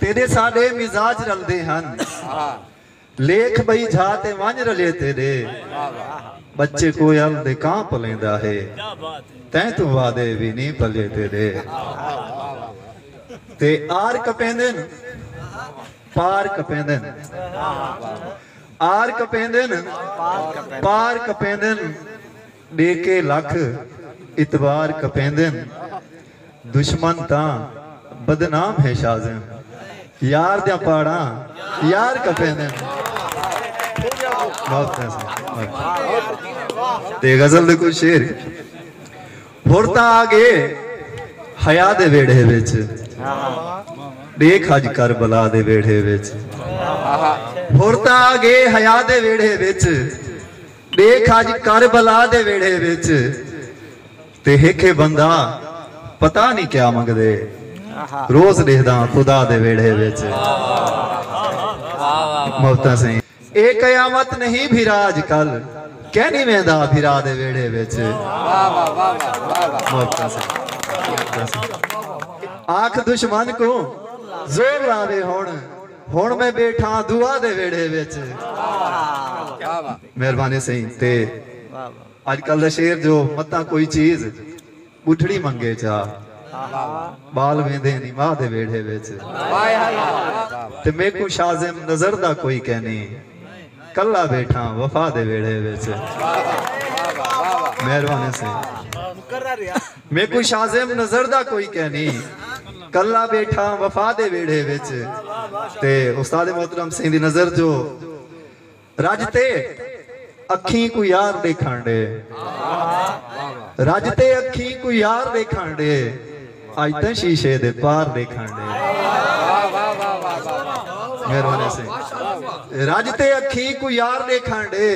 تیݙے ساݙے مزاج رلدے ہن لیکھ ٻئی جھا تے ونڄ رلے تیݙے ٻچے کوئل دے کاں پلیندا ہے تیں توں وادے وی نی پلے تیݙے تے آر کپیندن پار کپیندن آر کپیندن پار کپیندن ݙیکھے لکھ اعتبار کپیندن دشمن تاں بدنام ہے شازن یار دیاں پاڑاں یار کپیندن تے غزل دے کچھ شعر ہر تاں آ گئے حیا دے ویڑھے وچ ݙیکھ اج کربلا دے ویڑھے وچ ہر تاں آ گئے حیا دے ویڑھے وچ ݙیکھ اڄ کربلا دے ویڑھے وچ تے ہکھے بندہ پتہ نی کیا منگدے روز ݙیہداں خدا دے ویڑھے وچ محبتاں سئیں اے قیامت نہیں بھرا اڄ کل کینی ویندا بھرا دے ویڑھے وچ محبتاں سئیں آکھ دشمن کوں زور لاوے ہݨ ہن میں بیٹھاں دعا دے ویڑھے وچ۔ مہربانی سئیں تے اج کل دا شعر جو متاں کوئی چیز ٻڈھڑی منگے چا ٻال ویندے نی ماء دے ویڑھے وچ تے میکوں شازم نظر دا کوئی کینی کلا بیٹھاں وفا دے ویڑھے وچ مہربانی سئیں۔ میکوں شازم نظر دا کوئی کینی کلا بیٹھاں وفا دے ویڑھے وچ تے استاد محترم سئیں دی نظر جو رج تے اکھیں کوں یار ڈیکھن ڈے رج تے اکھیں کوں یار ڈیکھن ڈے اج تاں شیشے دے پار ڈیکھن ڈے مہربانی سئیں رج تے اکھیں کوں یار ڈیکھن ڈے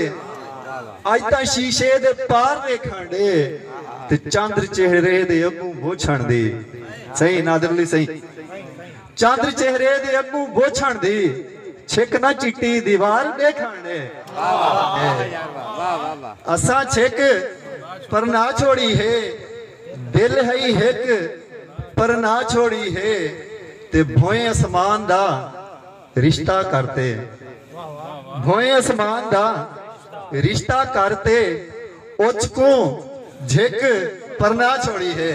اڄ تاں شیشے دے پار ویکھݨ ݙے تے چندر چہرے دے اڳوں بوچھݨ دی سئیں نادر علی سئیں چندر چہرے دے اڳوں بوچھݨ دی چھک نہ چٹی دیوار ݙیکھݨ ݙے اساں چھک پر نہ چھوڑی ہے دل ہئی ہک پر نہ چھوڑی ہے تے بھوئیں اسمان دا رشتہ کر تے بھوئیں اسمان دا رشتہ کر تے اچ کوں جھک پرنا چھوڑی ہے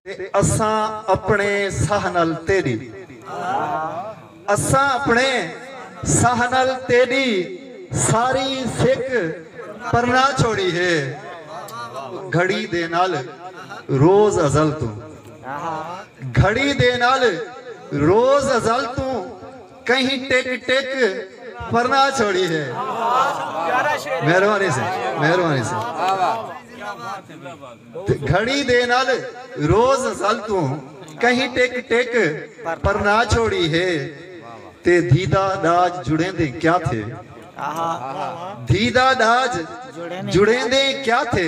تے اساں اپنے ساہ نال تیڈی اساں اپنے ساہ نال تیڈی ساری سک پرنا چھوڑی ہے گھڑی دے نال روز ازل توں۔ گھڑی دے نال روز ازل توں کہیں ٹک ٹک پرنا چھوڑی ہے مہربانی سے مہربانی سے گھڑی دے نال روز ازل توں کہیں ٹک ٹک پرنا چھوڑی ہے تے دیدا ڈاج جڑیں دے کیا تھے دیدا ڈاج جڑیں دے کیا تھے